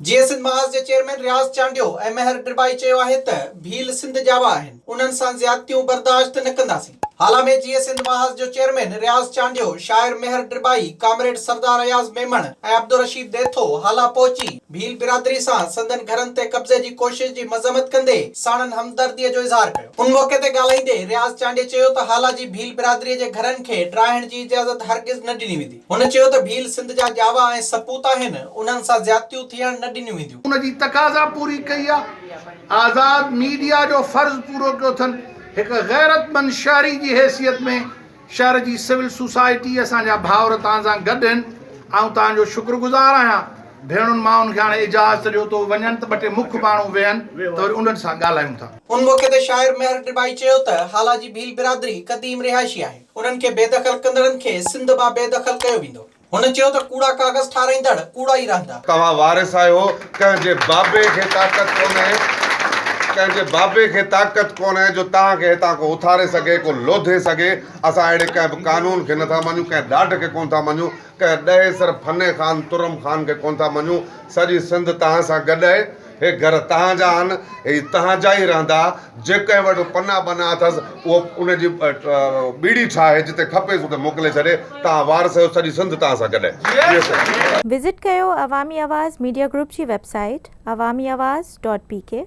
جيئي سنڌ محاذ جي چيئرمين رياض چانڊيو ۽ مهر ڏرٻائي چيو آهي ته ڀيل سنڌ جاوا آهن انهن سان زيادتيون برداشت نه ڪنداسين هالا ۾ جيئي سنڌ محاذ جو چيئرمين رياض چانڊيو، شاعر مهر ڏرٻائي، ڪامريڊ سردار اياز ميمڻ ۽ عبدالرشيد ڏيٿو هالا پهچي ڀيل برادري سان سندن گهرن تي قبضي جي ڪوشش جي مذمت ڪندي ساڻن همدردي جو اظهار ڪيو. ان موقعي تي ڳالهائيندي رياض چانڊيي چيو ته هالا جي ڀيل برادري جي گهرن کي ڊاهڻ جي اجازت هرگز نه ڏني ويندي. هن چيو ته ڀيل سنڌ جا ڄاوا ۽ سپوت آهن، انهن سان زيادتيون ٿيڻ نه ڏنيون وينديون. ان جي تقاضا پوري ڪئي آ، آزاد ميڊيا جو فرض پورو ڪيو اٿن، هڪ غيرتمند شهري جي حيثيت ۾. شهر جي سول سوسائٽي اسان جا ڀائور توهان سان گڏ هن آئون توهان جو شڪر گذار آهيان ڀيڻن مائن کي هاڻي اجازت ڏيو تو وڃن ته ٻه ٽي مک ماڻهو ويهن ته وري انهن سان ڳالهايون ٿا. ان موقعي تي شاعر مهر ڊٻائي چيو ته هالا جي ڀيل برادري قديم رهائشي آهي انهن کي بيدخل ڪندڙن کي سنڌ مان بيدخل ڪيو ويندو. هن چيو ته ڪوڙا ڪاغذ ٺاهرائيندڙ ڪوڙا ئي رهندا. توهان وارث آهيو ڪنهن جي بابي کي طاقت ڪونهي ڪنهن جي بابي کي طاقت ڪونهي جو توهان کي هتان ڪو اٿاري سگهي ڪو لوڌي سگهي اسان اهڙي ڪنهن به قانون کي نٿا مڃون ڪنهن ڏاڍ کي ڪونه ٿا مڃون ڪنهن ڏهيسر ڦني خان ترم خان کي ڪونه ٿا مڃون سڄي سنڌ توهان سان گڏ آهي هي گهر تهان جا آهن، هي تهان جا ئي رهندا. جي ڪنهن وٽ پناهه بناهه اٿس، اهو ان جي ٻيڙي ٺاهي، جتي کپيس اتي موڪلي ڇڏي. تهان وارث آهيو، سڄي سنڌ تهان سان گڏ آهي. وزٽ ڪيو عوامي آواز ميڊيا گروپ جي website Awami Awaz dot P ڪي.